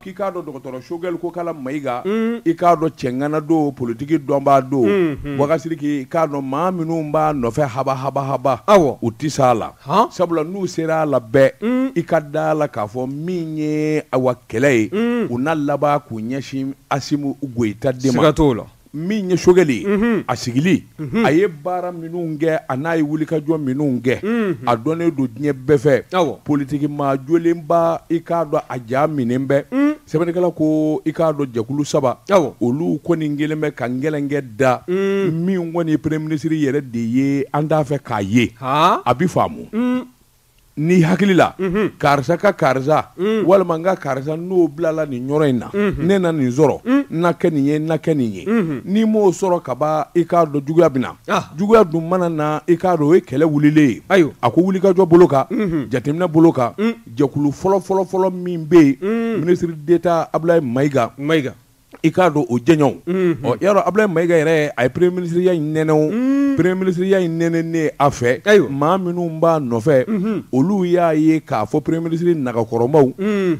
k'i k'a dɔn dɔgɔtɔrɔ sogɛli kokala mayiga mm. i k'a dɔn cɛŋana don politiki dɔnbaa don mm, mm. wakasiriki i k'a dɔn maa minnu b'a nɔfɛ haba haba haba awɔ u tɛ s'a la sabula n'u sera a la bɛɛ i ka da a la k'a fɔ min ye awa kɛlɛ ye u na laban k'u ɲɛsin asimu goyita de ma siga t'o la min ye sogɛli ye a sigili a ye baara minnu kɛ a n'a ye wulikajɔ minnu kɛ a dɔnnen don diɲɛ bɛɛ fɛ politikimaa jolenba i k'a dɔn a ja minɛ bɛɛ sɛbɛnnikɛla ko i k'a dɔn jɛkulu saba olu kɔni kelen bɛ ka gɛlɛnkɛ da min kɔni ye premier minisiri yɛrɛ de ye an t'a fɛ k'a ye a bɛ faamu n'i hakili la karisa ka karisa walima n ka karisa n'o bilala nin yɔrɔ in na ne na nin sɔrɔ n na kɛ nin ye n na kɛ nin ye n'i m'o sɔrɔ kaban i k'a dɔn juguya bɛ na ah. juguya dun mana na i k'a dɔn o ye kɛlɛ wulilen ye ayiwa a ko wulikajɔ bolo kan jateminɛ bolo kan jɛkulu fɔlɔ fɔlɔ fɔlɔ min bɛ yen minisiri deta abulayi mayiga i k'a dɔn o jɛɲɔgɔnw ɔ y'a dɔn Abulayi Mayiga yɛrɛ a ye premier minisiriya in nɛnɛ o premier minisiriya in nɛnɛnen a fɛ maa minnu b'a nɔfɛ olu y'a ye k'a fɔ premier minisiri nagakɔrɔmaw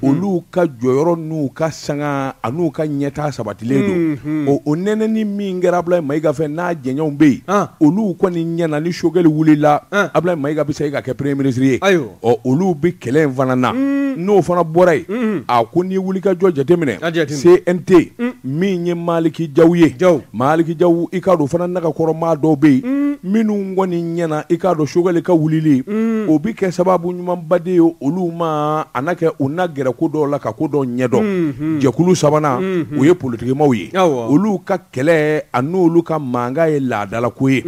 olu ka jɔyɔrɔ n'u ka sanga a n'u ka ɲɛtaa sabatilen don ɔ o nɛnɛni min kɛra Abulayi Mayiga fɛ n'a jɛɲɔgɔnw bɛ yen olu kɔni ɲɛna ni sogɛli wulila Abulayi Mayiga bɛ segin ka kɛ premier minisiri ye. ɔ olu bɛ kɛlɛ in fana na n'o fana bɔra yen a ko ni wulikajɔ jateminɛ CNT min ye maliki jaw ye ja maliki jaw i k'a dɔn fana nagakɔrɔmaa dɔw bɛ yen minnu kɔni ɲɛna i k'a dɔn sogɛli ka wulili o bɛ kɛ sababu ɲumanba de ye olu ma a na kɛ u na gɛrɛ ko dɔw la ka ko dɔw ɲɛdɔn jɛkulu sabanan o ye politikimaw ye olu kɛlɛ a n'olu ka mankan ye laadalako ye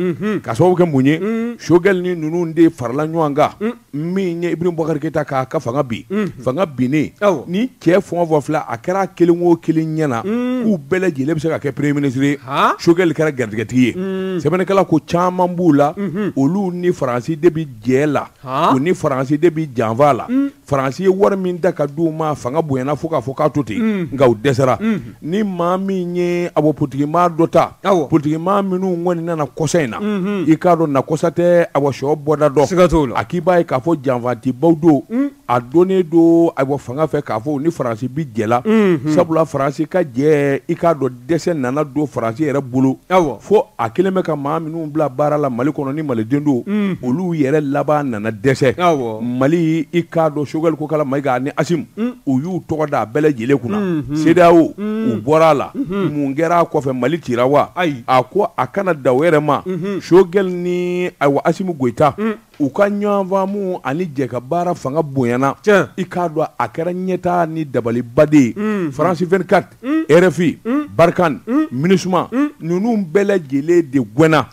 ka sababu kɛ mun ye sogɛli ni ninnu de farala ɲɔgɔn kan min ye ibrahima bubakari keyita k'a ka fanga bin fanga binnen ni cɛ fɔ fɔ fila a kɛra kelen o kelen ɲɛna k'u bɛɛ lajɛlen bɛ se ka kɛ premier minisiri ye sogɛli kɛra garijɛgɛtigi ye sɛbɛnnikɛla ko caman b'u la olu ni faransi de bɛ jɛ la u ni faransi de bɛ janfa la faransi ye wari min da ka d'u ma fanga bonyana fo k'a fɔ k'a to ten mm. nka u dɛsɛra mm. ni maa min ye awɔ politikimaa dɔ ta politikimaa minnu kɔni nana kɔsa in na mm-hmm. i k'a dɔn nakɔsa tɛ awɔ so bɔda dɔn a k'i b'a ye k'a fɔ janfantibaw don mm. a dɔnnen don awɔ fanga fɛ k'a fɔ ni faransi bi jɛ la mm-hmm. sabula faransi ka jɛ i k'a dɔn dɛsɛ nana don faransi yɛrɛ bolo fo a kelen bɛ ka maa minnu bila baara la mali kɔnɔ ni maliden don mm. olu yɛrɛ laban nana dɛsɛ mali i k'a dɔn sogɛli kokala mayiga ni asimu mm. u y'u tɔgɔ da a bɛɛ lajɛlen kunna mm-hmm. sedeyawo mm. u bɔra a la mm-hmm. mun kɛra a kɔfɛ mali cira wa a ko a kana da o yɛrɛ ma mm-hmm. sogɛli ni ayiwa asimu goyita u ka ɲɔgɔnfaamu ani jɛ ka baara fanga bonyana i k'a dɔn a kɛra ɲɛtaa ni dabaliba de mm. faransi 24 mm. rfi mm. barikani minusima ninnu bɛɛ lajɛlen de gɛnna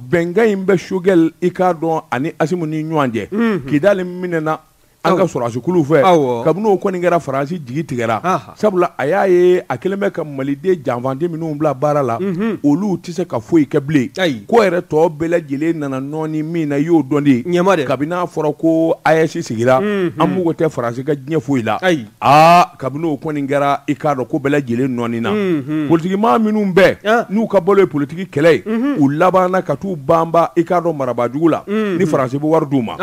bɛnkan in bɛ sogɛli i k'a dɔn ani asimu ni ɲɔgɔn cɛ kidali minɛna an ka sɔrɔdasikulu fɛ kabini o kɔni kɛra faransi jigi tigɛra sabula a y'a ye a kɛlen bɛ ka maliden janfanci minnu bila baara la mhm. olu tɛ se ka foyi kɛ bilen ko yɛrɛ tɔ bɛɛ lajɛlen nana nɔɔni min na i y'o dɔn de kabini a fɔra ko aes sigira mhm. an mako tɛ faransi ka diɲɛ foyi la aa kabini o kɔni kɛra i k'a dɔn ko bɛɛ lajɛlen nɔɔnina mhm. politigimaa minnu bɛɛ ah. n'u ka balo ye politigi kɛlɛ ye u labanna ka taa u banba i k'a dɔn marabaajugu la ni faransi bɛ wari d'u ma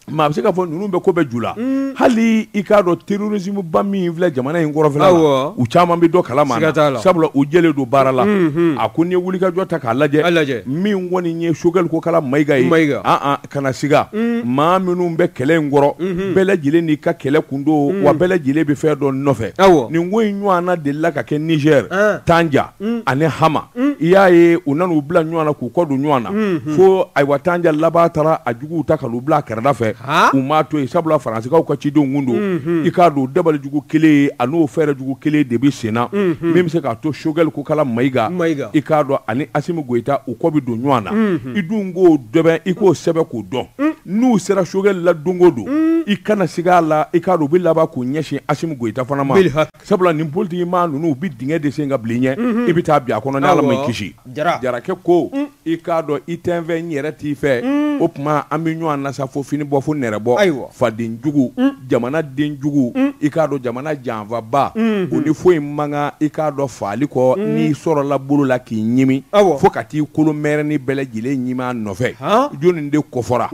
Maa bɛ se k'a fɔ ninnu bɛ ko bɛɛ ju la hali i k'a dɔn terorisimuba min filɛ jamana in kɔrɔnfɛla la u caman bɛ dɔ kalama na sabula u jɛlen don baara la a ko n'i ye wulikajɔ ta k'a lajɛ min kɔni ye sogɛli kokala mayiga ye aa kana siga maa minnu bɛ kɛlɛ in kɔrɔ bɛɛ lajɛlen n'i ka kɛlɛ kun don wa bɛɛ lajɛlen bɛ fɛn dɔ nɔfɛ nin ko in ɲɔgɔnna delila ka kɛ nizɛri tanja ani hama i y'a ye u nana u bila ɲɔgɔn na k'u kɔ don ɲɔgɔn na fo ayiwa tanja laban taara a juguw ta ka n'u bila a kɛrɛda fɛ u m'a to yen sabula faransikaw ka cidenw don i k'a dɔn dabalijugu kelen a n'o fɛɛrɛ jugu kelen de bɛ senna min bɛ se k'a to sogɛli kokala mayiga i k'a dɔn ani asimu goyita u kɔ bɛ don ɲɔgɔn na i dun k'o dɔn i k'o sɛbɛ k'o dɔn n'u sera sogɛli la don o don i kana siga a la i k'a dɔn u bɛ laban k'u ɲɛsin asimu goyita fana ma Sabula nin politigimaa ninnu u bɛ dingɛ de sen k'a bil'i ɲɛ i bɛ taa bin a kɔnɔ ni ala m'i kisi jarakɛ ko i k'a dɔn i tɛ n fɛ n yɛrɛ t'i fɛ o tuma an bɛ ɲɔgɔn na sa fo fini bɔ fo nɛrɛbɔ ayiwa fadenjugu jamana denjugu i k'a dɔn jamana janfaba o ni foyi man kan i k'a dɔn faali kɔ n'i sɔrɔla bolo la k'i ɲimi aw fo ka t'i kolo mɛrɛni bɛɛ lajɛlen ɲimi a nɔfɛ jɔnni de kofɔra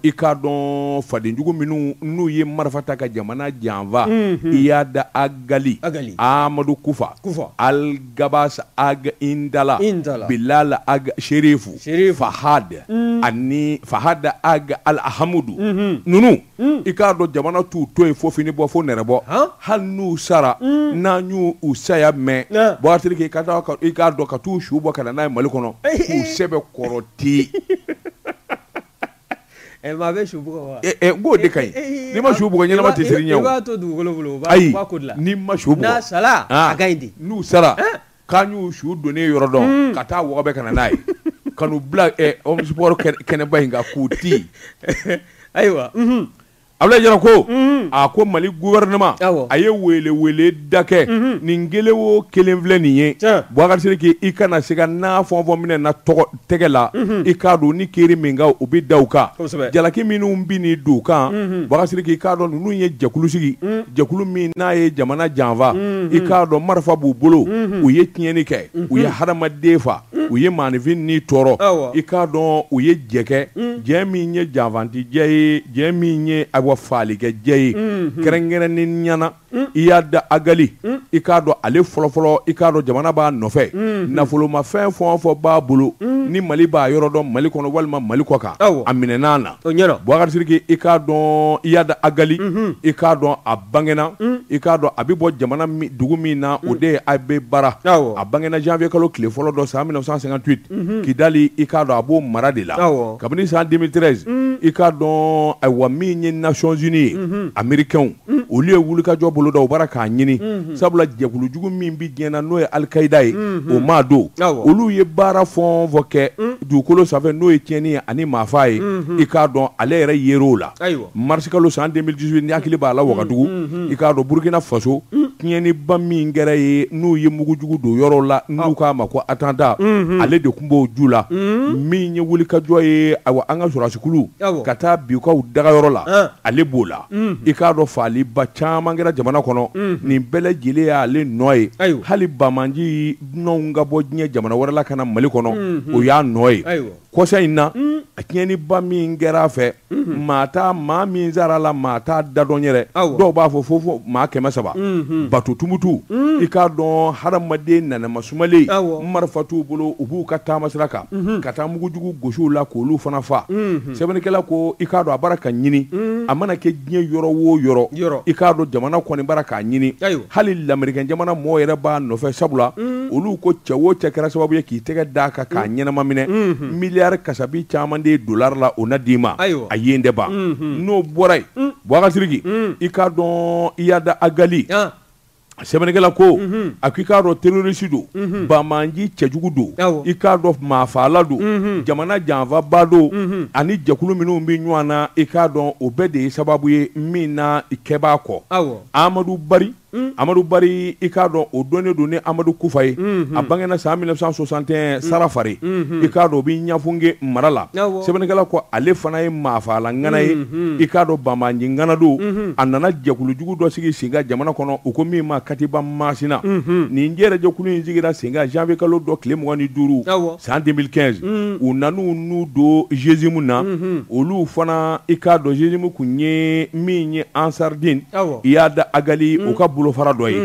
i k'a dɔn fadenjugu minnu n'u ye marifa ta ka jamana jamana janfa iyada agali amadu kufa aligabasi ag indala bilali ag serifu fahad ani fahad ag alahamudu ninnu i k'a dɔn jamana t'u to yen fo fini bɔ fo nɛrɛbɔ hali n'u sara n'an y'u saya mɛn bubakari i k'a dɔn ka t'u su bɔ ka na n'a ye mali kɔnɔ k'u sɛbɛkɔrɔ ti Ɛ maa bɛ su bugɔ wa? Ɛ ɛ n k'o de ka ɲi. N'i ma su bugɔ ɲɛnama tɛ siran i ɲɛ o. I b'a to dugukolo bolo o b'a ayi u b'a ko dilan. N'i ma su bugɔ. N'a sala a ka ɲi de. N'u sara k'an y'u su donnen yɔrɔ dɔn ka taa wɔgɔbɛ ka na n'a ye ka n'u bila ɛ omnisports kɛnɛba in kan k'u ti ayiwa Abilayi jara ko a ko mali gouvernement a ye wele wele da kɛ nin kelen wo kelen filɛ nin ye bubakari sidiki i kana se ka n'a fɔ fɔ minɛna u tɛgɛ la i k'a dɔn ni kiri min kan u bɛ da u kan jalaki minnu binnen don u kan bubakari sidiki i k'a dɔn ninnu ye jɛkulu sigi jɛkulu min n'a ye jamana janfa i k'a dɔn marifa b'u bolo u ye tiɲɛni kɛ u ye hadamaden faa u ye maaninfin ni tɔɔrɔ i k'a dɔn u ye jɛ kɛ jɛ min ye janfanti jɛ ye jɛ min ye awa faalikɛ jɛ ye kɛrɛnkɛrɛnnenya na iyadi agali i k'a dɔn ale fɔlɔfɔlɔ i k'a dɔn jamana b'a nɔfɛ nafolomafɛn fɔ fɔ b'a bolo ni mali b'a yɔrɔ dɔn mali kɔnɔ walima mali kɔ kan a minɛn'a na Bukari i k'a dɔn i yaada ali i k'a dɔn a bangna i k'a dɔn a bɛ bɔ jamana dugu min na o de ye a bɛ bara a bangegna janfɛ kalo tile fɔlɔ dɔ san minɛ san san tuye k'i dalen i k'a dɔn a b'o mara de la kabini san denmisɛnninmire i k'a dɔn wa min ye naon zoni ye a miirikw Mm. olu ye wulikajɔ bolo da u b'a ra k'a ɲini mm-hmm. sabula jɛkulujugu min bɛ diɲɛ na n'o ye alikayida ye mm-hmm. o maa don olu ye baara fɔn fɔ kɛ mm. dugukolo sanfɛ n'o ye tiɲɛni ye ani maafa ye mm-hmm. i k'a dɔn ale yɛrɛ yer'o la marisikalo san 2018 n'i hakili b'a la wagadugu i k'a dɔn burukina faso mm. tiɲɛniba min kɛra yen n'u ye mugujugu don yɔrɔ la n'u k'a ma ko attentat ale de tun b'o ju la min ye wulikajɔ ye awa an ka sɔrɔdasikulu ka taa bin u kan u dagayɔrɔ la ah. ale b'o la i k'a dɔn faaliba caman kɛra jamana kɔnɔ nin bɛɛ lajɛlen y'ale nɔ ye hali banbaanci dunanw ka bɔ diɲɛ jamana wɛrɛ la ka na mali kɔnɔ o y'a nɔ ye kɔsa in na a tiɲɛniba min kɛra a fɛ maa t'a maa min sara a la maa t'a da dɔn yɛrɛ dɔw b'a fɔ fo maa kɛmɛ saba bato tumutu i k'a dɔn hadamaden nanama sumalen marifa t'u bolo u b'u ka taama sira kan ka taa mugujugu gosi u la k'olu fana faa sɛbɛnnikɛla ko i k'a dɔn a b'a ra k'a ɲini a mana kɛ diɲɛ yɔrɔ wo yɔrɔ i k'a dɔn jamana kɔni b'a ra k'a ɲini hali lamerikɛn jamana mɔgɔ yɛrɛ b'a nɔfɛ sabula olu ko cɛ wo cɛ kɛra sababu ye k'i tɛgɛ d'a kan k'a ɲɛnama minɛ miliyari kasabi caman de ye dollar la o na d'i ma a yen de ban n'o bɔra yen bubakari sidiki i k'a dɔn iyadi agali sɛbɛnnikɛla ko mhm. a ko i k'a dɔn terroriste don mhm. banbaanci cɛjugu don i k'a dɔn maafaala don mhm. jamana janfaba don ani jɛkulu minnu bɛ ɲɔgɔn na i k'a dɔn o bɛɛ de ye sababu ye min na i kɛbaa kɔ amadu bari Mm. amadu bari i k'a dɔn o dɔnnen don ni amadu kufa ye mm-hmm. a bangena san 1961 mm. sarafere mm-hmm. i k'a dɔn o bɛ ɲafunge mara la sɛbɛnnikɛla ko ale fana ye maafaala ŋana ye mm-hmm. i k'a dɔn banbaanci ŋana don a nana jɛkulujugu dɔ sigi sen kan jamana kɔnɔ u ko min ma katiba masina nin jɛrɛjɛkulu in sigira sen kan janvier kalo dɔ tile mugan ni duuru san 2015 u nana n'u don GSIM na olu fana i k'a dɔn GSIM tun ye min ye Ansardine Iyad Agali u ka bolofara dɔ ye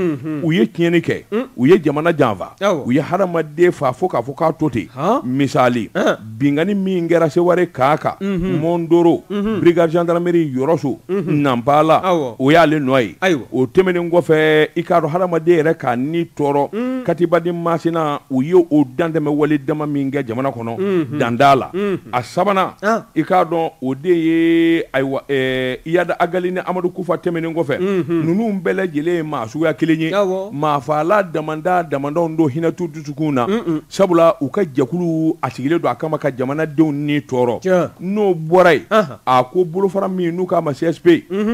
u ye tiɲɛni kɛ u ye jamana janfa u ye hadamaden fa fo k'a fɔ k'a to ten misali binkanni min kɛra Seware camp kan, unhun, Mɔndoro, unhun, brigade gendarmerie Yɔrɔso, unhun, Nanpala, awɔ, o y'ale nɔ ye, ayiwa, o tɛmɛnen kɔfɛ i k'a dɔn hadamaden yɛrɛ k'a ni tɔɔrɔ, un, Katiba du Masina u ye o dantɛmɛ wale dama min kɛ jamana kɔnɔ, unhun, dan t'a la, unhun, a sabanan, an, i k'a dɔn o de ye ayiwa ɛɛ Iyad Agali ni Amadu Kufa tɛmɛnen kɔfɛ, unhun, ninnu bɛɛ lajɛlen ye maa suguya kelen ye, awɔ, maafagala damada damadɔw don hinɛ t'u dusukun na, un-un Sabula u ka jɛkulu a sigilen don a kama ka jamanadenw ni tɔɔrɔ n'o bɔra yen a ko bolofara min n'u k'a ma CSP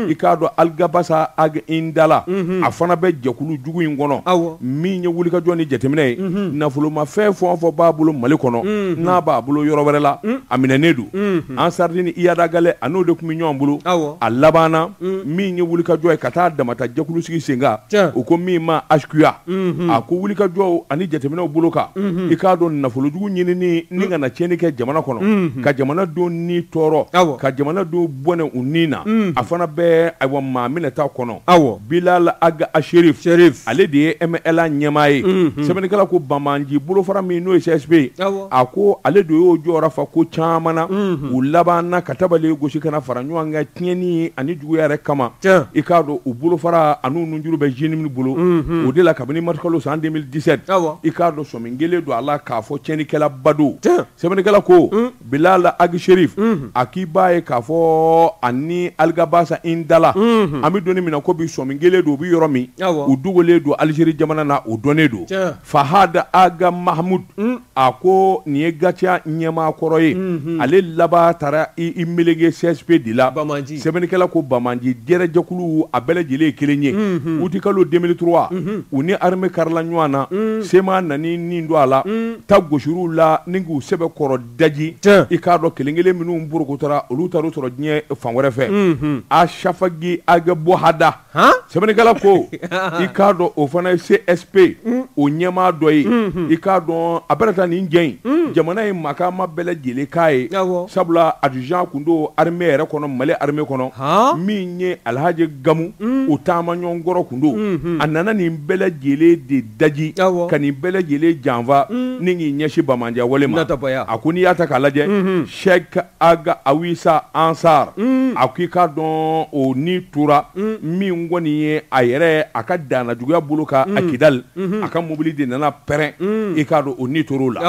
i k'a dɔn Aligabasa Aga Intala a fana bɛ jɛkulu jugu in kɔnɔ awɔ min ye wulikajɔ ni jateminɛ ye nafolomafɛn fɛn o fɛn b'a bolo mali kɔnɔ n'a b'a bolo yɔrɔ wɛrɛ la a minɛnen don Ansardine Iyad Agali a n'o de tun bɛ ɲɔgɔn bolo awɔ a labanna min ye wulikajɔ ye ka t'a dama ta jɛkulu sigi sen kan u ko min ma HCUA a ko wulikajɔw ani jateminɛw bolo kan i k'a dɔn nafolojugu ɲinin ni ka na tiɲɛni kɛ jamana kɔnɔ ka jamanadenw ni tɔɔrɔ ka jamanadenw bɔnɛ u ni na a fana bɛ ayiwa maa minɛta kɔnɔ awɔ Bilal Aga Sherif ale de ye MNLA ɲɛmaa ye sɛbɛnnikɛla ko banbaanci bolofara min n'o ye CSP ye a ko ale de y'o jɔyɔrɔ fa ko caman na u labanna ka tabali gosi ka na fara ɲɔgɔn kan tiɲɛni ani juguya yɛrɛ kama i k'a dɔn u bolofara ani juru bɛ JNIM bolo o de la kabini marisikalo san 2017 i k'a dɔn sɔmi kɛlen don a la k'a fɔ tiɲɛnikɛlaba don sɛbɛnnikɛla ko Bilal Aga Sherif a k'i b'a ye k'a fɔ ani Aligabasa Intala an bɛ don min na ko bi sɔmi kɛlen don u bɛ yɔrɔ min u dogolen don alizeri jamana na o dɔnnen don fahada aga mahamud mm. a ko nin ye GATIA ɲɛmaa kɔrɔ ye mm-hmm. ale laban taara i melege csp de la sɛbɛnnikɛla ko banbaanci jɛrɛjɛkulu a bɛɛ lajɛlen ye kelen ye mm-hmm. utikalo 2003 mm-hmm. u ni arme karila ɲɔgɔn na mm. CMA nana n'i don a la mm. ta gosir'u la ni k'u sɛbɛkɔrɔ daji i k'a dɔn kelen kelen minnu porokotora olu taar'u sɔrɔ diɲɛ fan wɛrɛ fɛ Asafagi Aga Bohada sɛbɛnnikɛla ko i k'a dɔn o fana ye csp o ɲɛmaa dɔ ye i k'a dɔn a bɛ taa nin cɛ in jamana ye makaama bɛɛ lajɛlen k'a ye sabula adjudant tun don arme yɛrɛ kɔnɔ mali arme kɔnɔ min ye alihaji gamu o taamaɲɔgɔn kɔrɔ tun don a nana nin bɛɛ lajɛlen de daji ka nin bɛɛ lajɛlen janfa ni k'i ɲɛsin banbaanciya wale ma a ko n'i y'a ta k'a lajɛ sɛki aga awisa ansar mm. a ko i k'a dɔn o ni tora mm. min kɔni ye a yɛrɛ a ka danajuguya bolo kan mm. a kidali mm-hmm. a ka mobili de nana pɛrɛn mm. i k'a dɔn o ni tor'o la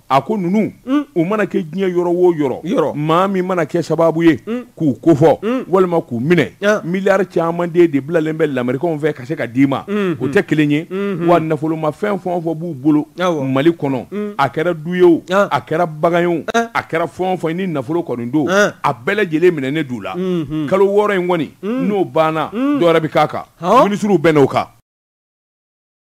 a ko ninnu mm. u mana kɛ diɲɛ yɔrɔ o yɔrɔ maa min mana kɛ sababu ye mm. k'u kofɔ mm. walima k'u minɛ ah. miliyari caman de de bilalen bɛ lamerikɛnw fɛ ka se ka d'i ma mm-hmm. o tɛ kelen ye mm-hmm. wa nafolomafɛn fɛn o fɛn b'u bolo mali kɔnɔ mm. a kɛra du ye o ah. a kɛra bagan ye o ah. a kɛra fɛn o fɛn ni nafolo kɔni don a bɛɛ lajɛlen minɛnen d'u la mm-hmm. kalo wɔɔrɔ in kɔni mm. n'o banna mm. dɔ wɛrɛ bɛ k'a kan minisiriw bɛnn'o kan